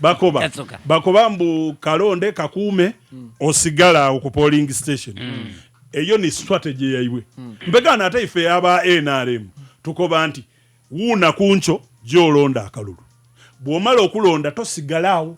bakoba bakoba mbu kalonde kakuume mm. osigala awo ku polling station mm. eyo ni strategy yaibwe mm. mpegana ate ife aba nrm tukoba nti wuuna kunco gyolonda akalulu bwomala okulonda tosigala awo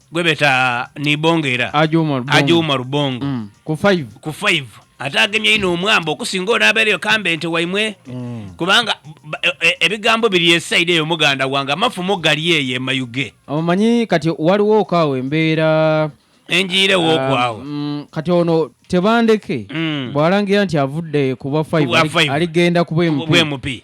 gwe beta nibongera Haji Umar Bongo. aji umaru bongo Mm. ku 5 ku 5 ate agemye ino omwamba okusinga onaabeereyo kambe nti waimwe kubanga ba- e- e- ebigambo biri esaidi eyo muganda wange amafumu gali eyo emayuge omanyi kati waliwo okaawo embeera enjiire wookwawo Ah, mm, kati ono tebandeke Mm. bw'alangira nti avudde ku bwa Ku bwa 5 five. aligenda ku bwempi bwemupi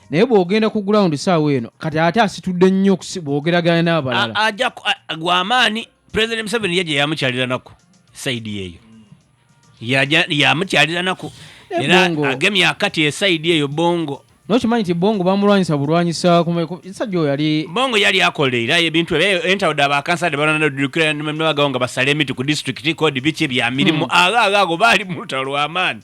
naye bwogenda ku ground saawa eno kati ate asitudde nnyo bwogeragana n'abalala gwamaanyi president museveni ye gye yamukyaliranako saidi eyo yamukyaliranako eh, era agemye akati esaidi eyo bongo nokimanyi nti bongo bamulwanyisa bulwanyisa sajja oyo yali bongo yali akolera ebintu entawude abakansade bananadukira nebagawo nga basala emiti ku disitulikiti kodi biki bya mirimu hmm. agaago baali mulutalo lwamaani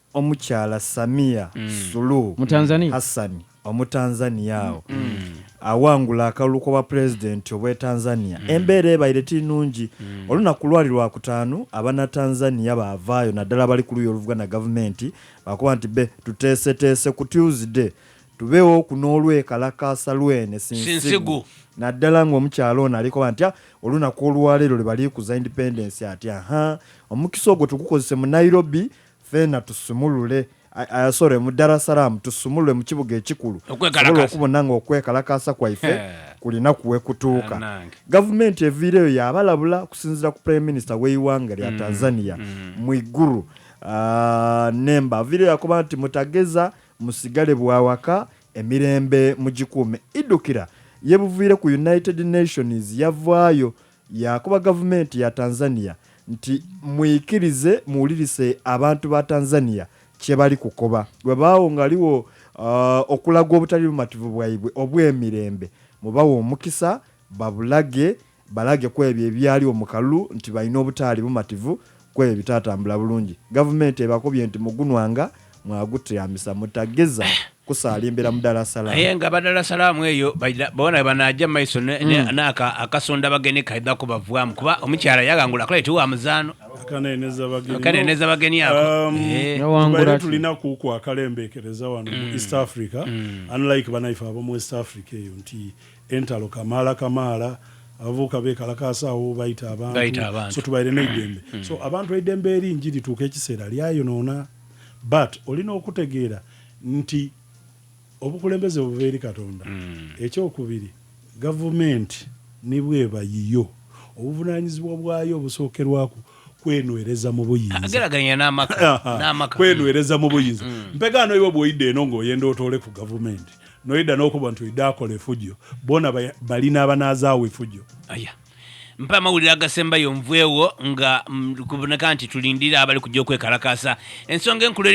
Omukyala Samia Suluhu Hassan Omutanzania awo awangula akalulu k'obwa Pulezidenti obw'e Tanzania. Embeera ebaire teri nungi. Olunaku lwali Lwakutaanu, Abanatanzania baavaayo naddala abali ku luuyi oluvuganya Gavumenti baakuba nti be tuteeseteese ku Tuesday tubeewo ku n'olwekalakaasa lw'ene sinsigu naddala ng'omukyala ono alikoba nti olunaku olwaleero lwe baliikuza Independence ati, Ahaa, omukisa ogwo tugukozese mu Nairobi Ffena tusumulule uh, sorry mu Dar es Salaam tusumulule mu kibuga ekikulu sobola okubona nga okwekalakaasa kwaife kulina kuwekutuuka gavumenti eviireyo yabalabula okusinzira ku prime minister w'eiwanga lya mm, Tanzania mm. Mwiguru uh, nemba aviireyo yakuba nti mutageza musigale bwawaka emirembe mugikuume idukira yebuviire ku United Nations yavaayo Yakuba gavumenti ya Tanzania nti muyikirize muwulirise abantu ba Tanzania kyebali kukoba webaawo ngaliwo okulaga obutali bumativu bwaibwe obwemirembe mubawe omukisa babulage balage kwebyo ebyaliwo mukalulu nti balina obutaali bumativu kwebyo ebitatambula bulungi gavumenti ebakubye nti mugunwanga mwagutyamisa mutageza kusaalimbira mu Dar es Salaam. Naye nga Dar es Salaam eyo bona banaja maiso mm. naka akasonda bageni kaidha kubavwamu kuba omukyala yagangula akola eti wa muzaano akaneneza bageni ako um, eh. tulina kuku akalembekereza wano mu mm. East Africa mm. unlike banaife abo mu West Africa eyo nti Entalo kamaala kamaala abavubuka bekalakaasa awo bayita abantu so tubaire neidembe hmm. so abantu eidembe eri nji lituuka ekiseera lyayonoona but olina okutegeera nti obukulembeze buva eri katonda hmm. ekyokubiri gavumenti nibweba yiyo obuvunanyizibwa bwayo obusookerwaku kwenwereza mu buyinzakwenwereza mu buyinza hmm. mpegaano iwe bwoyidde eno ngaoyenda otoole ku gavumenti Noyeda nokuba nti oida akola efujo bona balina abanazawo efujo. Aya. Mpa amawulire agasembayo nveewo nga kuboneka nti tulindire abali kujja okwekalakaasa. Ensonga enkulu eri.